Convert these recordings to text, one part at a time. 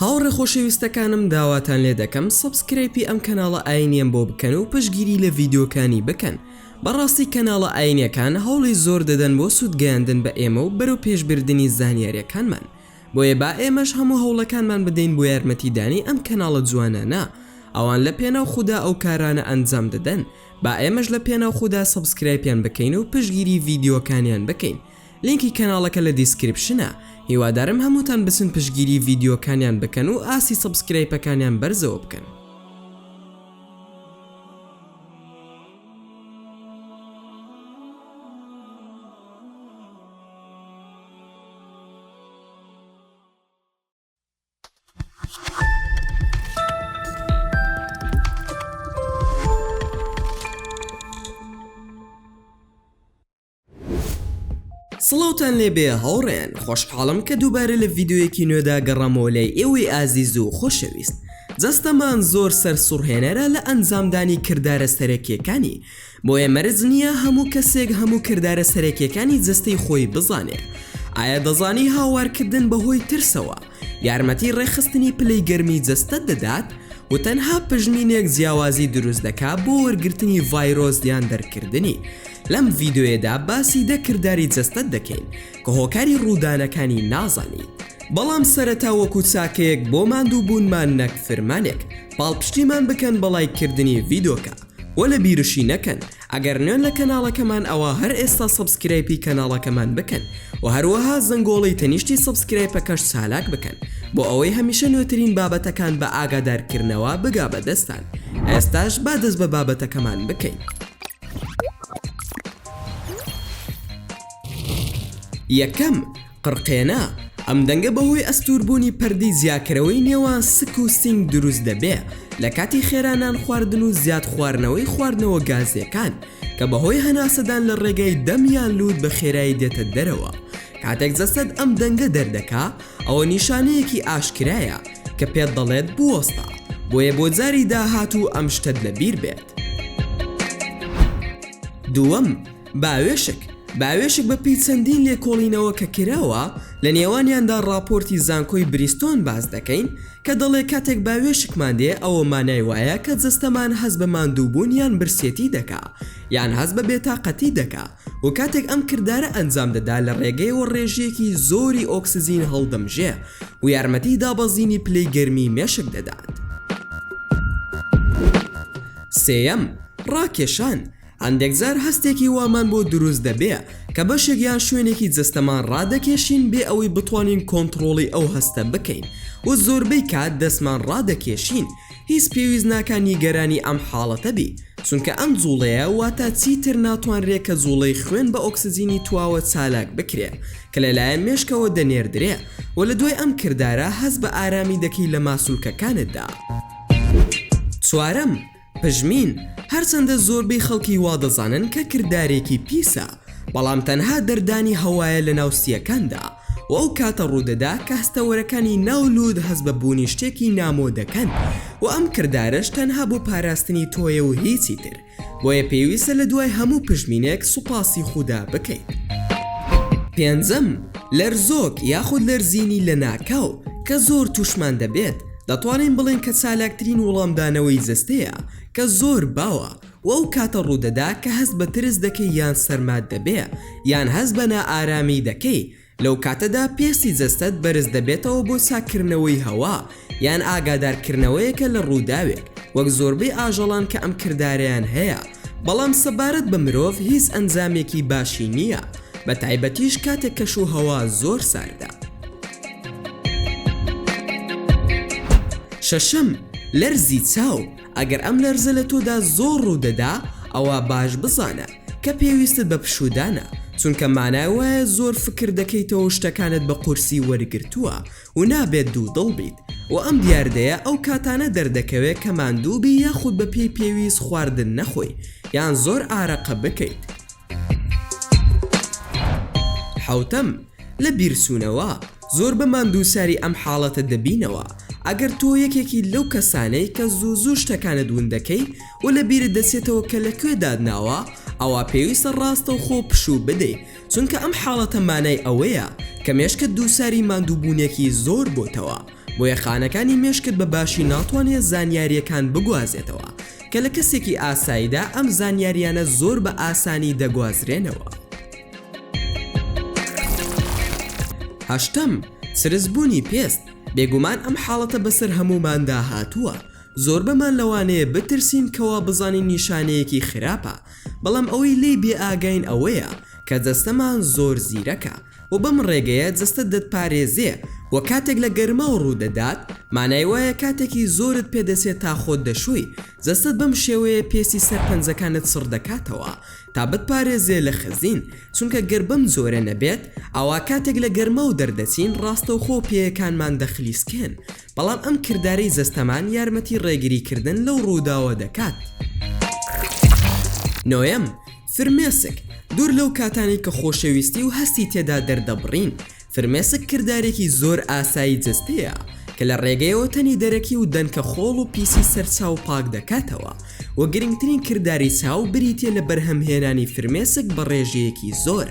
هاوڕێ خۆشەویستەکانم داواتان لێ دەکەم سەبسکرەیپی ئەم کەناڵە ئاینیەم بۆ بکەن و پشگیری لە ڤیددیوکانی بکەن بەڕاستی کەناڵە ئاینەکان هەوڵی زۆر دەدەن بۆ سوودگەیاندن بە ئێمە و بەرەو پێشبردننی زانیاریەکانمان بۆیە با ئێمەش هەموو هەوڵەکانمان بدەین بۆ یارمەتیدانی ئەم کەناڵە جوانانە ئەوان لە پێناو خوددا ئەو کارانە ئەنجام دەدەن با ئێمەش لە پێناو خوددا سەبسکرایپیان بکەین و پشگیری ڤیددیوەکانیان بکەین لینکی کەناڵەکە لە دیسکریپشنە هیوادارم هەمووتان بچن پشگیری ڤیدیۆکانیان بکەن و ئاستی سەبسکرەیپەکانیان بەرزەوە بکەن. سڵاوتان لێ بێ هاوڕێیان خۆشحاڵم کە دووبارە لە ڤیددیویەکی نوێدا گەڕامەوە لای ئێوەی ئازیز و خۆشەویست جەستەمان زۆر سەر سوڕهێنەرە لە ئەنجامدانی کردارە سەرەکیەکانی بۆیە مەرج نییە هەموو کەسێک هەموو کردارە سەرەکیەکانی جەستەی خۆی بزانێ ئایا دەزانی هاوارکردن بەهۆی ترسەوە یارمەتی ڕێخستنی پلەی گەرمی جەستە دەدات و تەنها پژمینێک جیاوازی دروست دەکات بۆ وەرگرتنی ڤایرۆزیان دەرکردنی لەم ڤیدۆیەدا باسی دە کرداری جەستەت دەکەین کە هۆکاری ڕوودانەکانی نازانیت بەڵام سەرەتا وەکو چاکەیەک بۆ ماندوو بوونمان نەک فرمانێک پاڵپشتیمان بکەن بە ڵایک کردنی ڤیدۆکە وە لە بیرشی نەکەن ئەگەر نوێن لە کەناڵەکەمان ئەوا هەر ئێستا سەبسکرایپی کەناڵەکەمان بکەن وە هەروەها زەنگۆڵی تەنیشتی سەبسکرایپەکەش چالاک بکەن بۆ ئەوەی هەمیشە نوێترین بابەتەکان بە ئاگادارکردنەوە بگا بە دەستتان ئێستاش با دەست بە بابەتەکەمان بکەین. یەکەم، قڕقێنە، ئەم دەنگە بەهۆی ئەستووربوونی پەردەی جیاکەرەوەی نێوان سک و سینگ دروست دەبێ لە کاتی خێرا نان خواردن و زیاد خواردنەوەی خواردنەوە گازییەکان کە بەهۆی هەناسەدان لە ڕێگەی دەم یان لووت بە خێرایی دێتە دەرەوە کاتێک جەستەت ئەم دەنگە دەردەکا ئەوە نیشانەیەکی ئاشکرایە کە پێت دەڵێت بوەستە بۆیە بۆ جاری داهاتوو ئەم شتەت لە بیر بێت دووەم باوێشک باوێشک بە پێی چەندین لێکۆڵینەوە کە کراوە لە نێوانیاندا ڕاپۆرتی زانکۆی بریستۆن باز دەکەین کە دەڵێ کاتێک باوێشکمان دێ ئەوە مانای وایە کە جەستەمان هەست بە ماندووبوون یان برسێتی دەکا یان هەست بە بێتاقەتی دەکا و کاتێک ئەم کردارە ئەنجام دەدا لە ڕێگەیەوە ڕێژەیەکی زۆری ئۆکسجین هەڵدەمژێ و یارمەتی دابەزینی پلەی گەرمی مێشک دەدات. سێیەم، ڕاکێشان، هەندێک جار هەستێکی وامان بۆ دروست دەبێ کە بەشێک یان شوێنێکی جەستەمان ڕادەکێشین بێ ئەوەی بتوانین کۆنتڕۆڵی ئەو هەستە بکەین و زۆربەی کات دەستمان ڕادەکێشین، هیچ پێویست ناکا نیگەرانی ئەم حاڵەتە بی چونکە ئەم جوڵەیە واتە چیتر ناتوانرێ کە جوڵەی خوێن بە ئۆکسجینی تواوە چالاک بکرێ کە لە لایەن مێشکەوە دەنێردرێ و لە دوای ئەم کردارە هەست بە ئارامی دەکەی لە ماسولکەکانتدا. چوارەم، پژمین، هەرچەندە زۆربەی خەڵکی وا دەزانن کە کردارێکی پیسە بەڵام تەنها دەردانی هەوایە لە ناو سییەکاندا، و ئەو کاتە ڕوودەدا کە هەستەوەرەکانی ناو لووت هەست بە بوونی شتێکی نامۆ دەکەن و ئەم کردارەش تەنها بۆ پاراستنی تۆیە و هیچی تر، بۆیە پێویستە لە دوای هەموو پشمینێک سوپاسی خودا بکەیت. پێنجەم، لەرزۆک یاخود لەرزینی لەناکاو، کە زۆر تووشمان دەبێت، دەتوانین بڵێین کە چالاکترین وڵامدانەوەی جەستەیە کە زۆر باوە، و ئەو کاتە ڕوودەدا کە هەست بە ترس دەکەی یان سەرمات دەبێ یان هەست بە نائارامی دەکەی، لەو کاتەدا پێستی جەستەت بەرز دەبێتەوە بۆ چاککردنەوەی هەوا یان ئاگادارکردنەوەیەکە لە ڕووداوێک، وەک زۆربەی ئاژەڵان کە ئەم کردارەیان هەیە، بەڵام سەبارەت بە مرۆڤ هیچ ئەنجامێکی باشی نییە، بە تایبەتیش کاتێک کەش و هەوا زۆر ساردە. شەشەم، لەرزی چاو، ئەگەر ئەم لەرزە لە تۆدا زۆر ڕوودەدا ئەوا باش بزانە کە پێویستت بە پشوودانە چونکە مانای وایە زۆر فکر دەکەیتەوەو شتەکانت بە قورسی وەرگرتووە و نابێت دوودڵ بیت و ئەم دیاردەیە ئەو کاتانە دەردەکەوێت کە ماندوو بی یاخود بە پێی پێویست خواردن نەخۆی یان زۆر ئارەقە بکەیت حەوتەم، لە بیرچوونەوە، زۆر بە ماندووساری ئەم حاڵەتە دەبینەوە، ئەگەر تۆ یەکێکی لەو کەسانەی کە زوو زوو شتەکانت ون دەکەی و لە بیرت دەچێتەوە کە لە کوێ دات ناوە، ئەوا پێویستە ڕاستەوخۆ پشوو بدەیت، چونکە ئەم حاڵەتە مانای ئەوەیە کە مێشکت دووچاری ماندووبوونێکی زۆر بۆتەوە، بۆیە خانەکانی مێشکت بە باشی ناتوانێت زانیارییەکان بگوازێتەوە. کە لە کەسێکی ئاساییدا ئەم زانیارییانە زۆر بە ئاسانی دەگوازرێنەوە. هەشتەم، سرسبوونی پێست، بێگومان ئەم حاڵەتە بەسەر هەمووماندا هاتووە، زۆربەمان لەوانەیە بترسین کە وابزانین نیشانەیەکی خراپە، بەڵام ئەوەی لێی بێئاگاین ئەوەیە کە جەستەمان زۆر زیرەکە، و بەم ڕێگەیە جەستەت دەتپارێزێ و کاتێک لە گەرماو ڕوو دەدات مانای وایە کاتێکی زۆرت پێ دەچێت تا خۆت دەشۆی، جەستەت بەم شێوەیە پێستی سەر پەنجەکانت سڕ دەکاتەوە تا بتپارێزێ لە خزین، چونکە گەر بەم جۆرە نەبێت ئەوا کاتێک لە گەرماو دەردەچین ڕاستەوخۆ پێیەکانمان دەخلیسکێن، بەڵام ئەم کردارەی جەستەمان یارمەتی ڕێگری کردن لەو ڕووداوە دەکات. نۆیەم، فرمێسک، دوور لەو کاتانەی کە خۆشەویستی و هەستی تێدا دەردەبڕین، فرمێسک کردارێکی زۆر ئاسایی جەستەیە کە لە ڕێگەیەوە تەنی دەرەکی و دەنکە خۆڵ و پیسی سەر چاو پاک دەکاتەوە و گرنگترین کرداری چاو بریتیە لە بەرهەمهێنانی فرمێسک بە ڕێژەیەکی زۆر.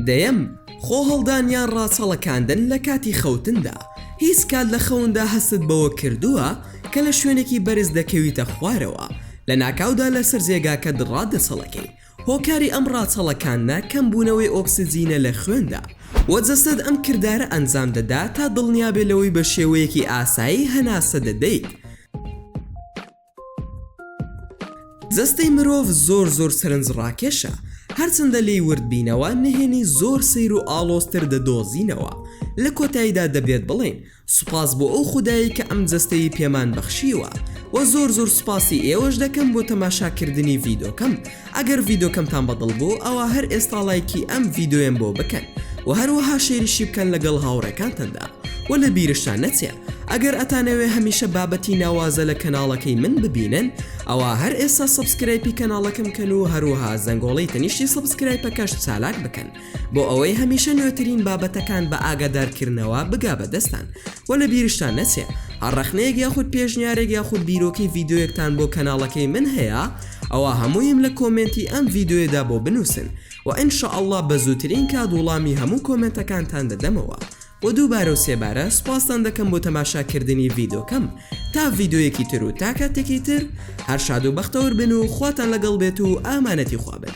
دەیەم، خۆهەڵدان یان ڕاچەڵەکاندن لە کاتی خەوتندا، هیچ کات لە خەوندا هەستت بەوە کردووە کە لە شوێنێکی بەرز دەکەویتە خوارەوە لەناکاودا لەسەر جێگاکەت ڕادەچەڵەکەی، هۆکاری ئەم ڕاچەڵەکاندنە کەمبوونەوەی ئۆکسجینە لە خوێندا و جەستەت ئەم کردارە ئەنجام دەدا تا دڵنیابێت لەوەی بە شێوەیەکی ئاسایی هەناسە دەدەیت. جەستەی مرۆڤ زۆر زۆر سەرنجڕاکێشە، هەرچەندە لێی ورد بینەوە نهێنی زۆر سەیر و ئاڵۆزتر دەدۆزینەوە، لە کۆتاییدا دەبێت بڵێین، سوپاس بۆ ئەو خودایەی کە ئەم جەستەیی پێمان بەخشیوە وە زۆر زۆر سوپاسی ئێوەش دەکەم بۆ تەماشا کردنی ڤیدۆکەم ئەگەر ڤیدۆکەمتان بەدڵ بوو ئەوا هەر ئێستا ڵایکی ئەم ڤیدۆیەم بۆ بکەن وە هەروەها شێریشی بکەن لەگەڵ هاوڕێکانتاندا وە لە بیرشتان نەچێ ئەگەر ئەتانەوێ هەمیشە بابەتی ناوازە لە کەناڵەکەی من ببینن ئەوا هەر ئێستا سەبسکرایپی کەناڵەکەم کەن و هەروەها زەنگۆڵەی تەنیشتی سەبسکرایپەکەش چالاک بکەن بۆ ئەوەی هەمیشە نوێترین بابەتەکان بە ئاگادارکردنەوە بگا بە دەستان و لە بیرشتان نەچێ هەر ڕەخنەیەک یاخود پێشنیارێک یاخود بیرۆکەی ڤیدیۆیەکتان بۆ کەناڵەکەی من هەیە ئەوە هەموویم لە کۆمێنتی ئەم ڤیدیۆیەدا بۆ بنووسن و ان شاء اللە بە زووترین کات وڵامی هەموو کۆمێنتەکانتان دەدەمەوە و دووبارە و سێبارە سوپاستان دەکەم بۆ تەماشاکردنی ڤیدۆکەم تا ڤیدۆیەکی تر و تا کاتێکی تر هەر شاد و بەختەوەر بن و خواتان لەگەڵ بێت و ئامانەتی خوابن